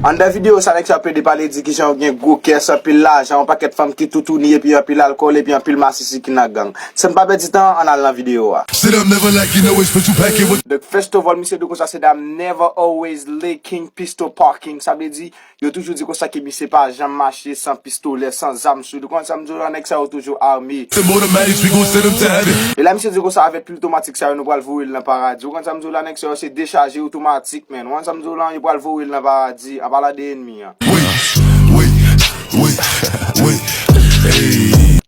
Anndan videyo sa nèg sa ap plede pale di kijan yo gen gwo kès, anpil lajan, yon pakèt fanm ki toutouni epi anpil alkòl epi anpil masisi ki nan gang. San pa pèdi tan, ann al nan videyo a. Donk fèstò vòl misye dwe konsa se dam Never Always Lee King Pistol Parking sa vle di. Yo toujou di konsa ke misye pa janm mache san pistolè, san zam sou li. Ou konn sa m di w la, nèg sa yo toujou ame. E la misye di konsa avèk pil tomatik sa yo nou pral voye l nan paradi. Ou konn sa m di w la, nèg sa yo se dechaje yo tomatik menn. Ou konn sa m di w lan, yo pral voye l nan paradi, an palan de enmi an.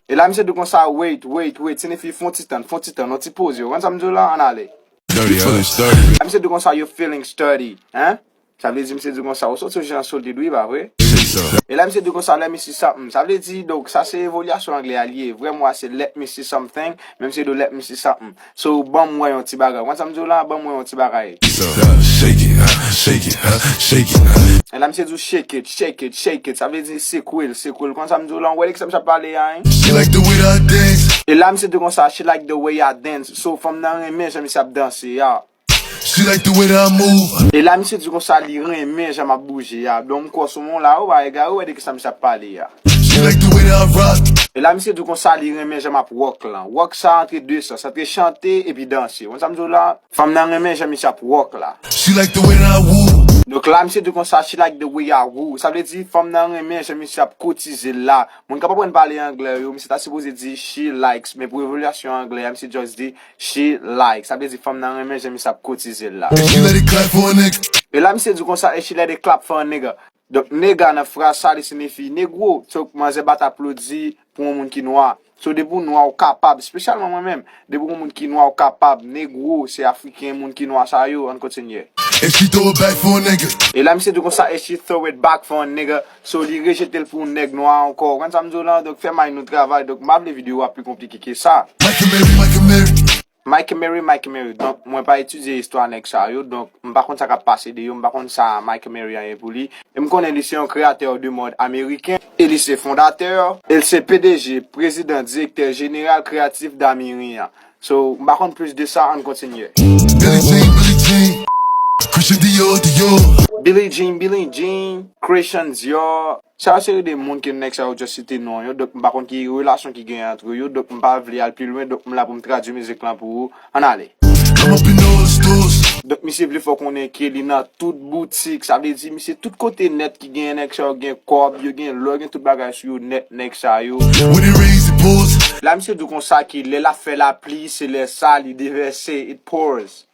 E la misye di konsa, wait, wait, wait, se nifi fon ti tann, fon ti tann, yon ti poze. Ou konn sa m di w lan, an ale. E la misye di konsa, yo feeling sturdy, hein, Sa vle di misye di konsa ou soti sou jan solid wi pa vre? E la misye di konsa lè mi si something sa vle di donk sa se evolyasyon anglè a li ye vrè mo a se let me see something men misye di w let me see something so banm wè yon ti bagay ou konn sa m di w la banm wè yon ti bagay e la misye di w shake it shake it shake it sa vle di sekwe l sekwe l ou konn sa m di w la ou wè de kisa misye ap pale a hein e la misye di konsa she like the way I dance so fanm nan renmen jan misye ap danse a. E la misye di konsa li renmen jan map bouje a don m kwè soumoun la ou pa egare ou wè de kisa misye ap pale a E la misye di konsa li renmen jan map rock lan rock sa antre 2 sans antre chante epi danse ou konn sa m di w la fanm nan renmen jan misye ap rock la Donk la misye di konsa she like the way I woo sa vle di fanm nan renmen jan misye ap koutize l la moun kap aprann pale anglè yo misye ta sipoze di she likes men pou evolyasyon anglè a misye just di She like sa vle di fanm nan renmen jan misye ap kotizel la. And she let it clap for a nigga. E la misye di konsa and she let it clap for a nigga. Donk nega nan fraz sa li sinifi negro. So manzè bat aplodi pou yon moun ki nwa. So depi ou nwa ou kapab, spesyalman mwen menm, depi ou yon moun ki nwa ou kapab, negro se afriken moun ki nwa sa yo, ann kontinye. And she throw it back for a nigga. E la misye di konsa and she throw it back for a nigga. So li rejetel pou yon nèg nwa ankò ou konn sam diw lan donk fè may nou travay donk m pa vle video a pi konplike ke sa. Mike Mary Mike Mary. Mike Mary Mike Mary donk mwen pa etidye istwa nèg sa yo donk m pa konn sa kap pase de yo m pa konn sa Mike Mary an ye pou li e m konnen li se yon kreyatè de mòd ameriken e li se fondatè e l se pdg, prezidan, direktè jeneral kreyatif Damirin an So m pa konn plis de sa ann kontinye. Billie Jean Billie Jean Christian Dior Dior. Billie Jean Billie Jean Christian Dior Sa yo seri de moun ke nèg sa yo just site non yo donk m pa konn ki relasyon ki genyen antre yo donk m pa vle al pi lwen donk m la pou m tradui mizik lan pou ou ann ale. Kòman Pinos Dos. Donk misye vle fè w konnen ke li nan tout boutik sa vle di misye tout kote nèt. Gen nèg sa yo gen kòb, yo gen lò, yo gen tout bagay sou yo nèt nèg sa yo. La misye di konsa ke lè lap fè lapli se lè sa li devèse, it pours.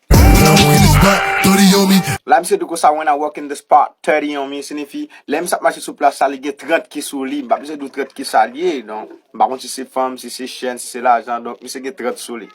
La misye di konsa when I walk in the spot, thirty on me sinifi lè misye ap mache sou plas la li gen 30 ki sou li, m pa bezwen di w 30 kisa li ye non, m pa konn si se fanm, si se chen, si se lajan donk misye gen 30 sou li.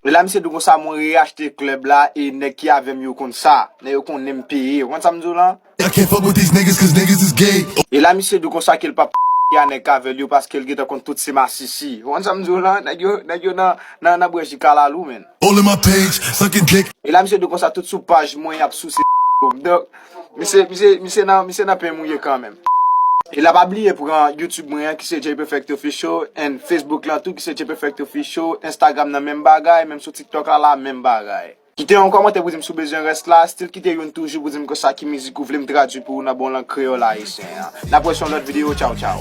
E la misye di konsa mwen reyachte klèb la e nèg ki avè m yo konn sa. Nèg yo konnen m peye. Ou konn sa m di w lan? I can't fuck with these niggas cause niggas is gay. E la misye di w konsa ke l pap k a nèg k a vè l yo paske l gentan konn tout se masisi. Ou konn sa m di w lan? Nèg yo, nèg yo nan, nan bwè ji kalalou menn. All in my page, suckin dick. E la misye di w konsa tout sou paj mwen y ap souse yo. Donk, misye, misye, misye nan, misye nan pen mouye kanmenm. E la pa bliye pran YouTube mwen an ki se Jayperfect Official and Facebook lan tou ki se Jayperfect Official, Instagram nan menm bagay, menm sou TikTok la la menm bagay. Kite yon kòmantè pou di m si w bezwen rès la, still kite youn toujou pou di m konsa ki mizik ou vle m tradui pou ou nan bon lang kreyòl ayisyen an. N ap wè se yon lòt videyo, tchaw tchaw.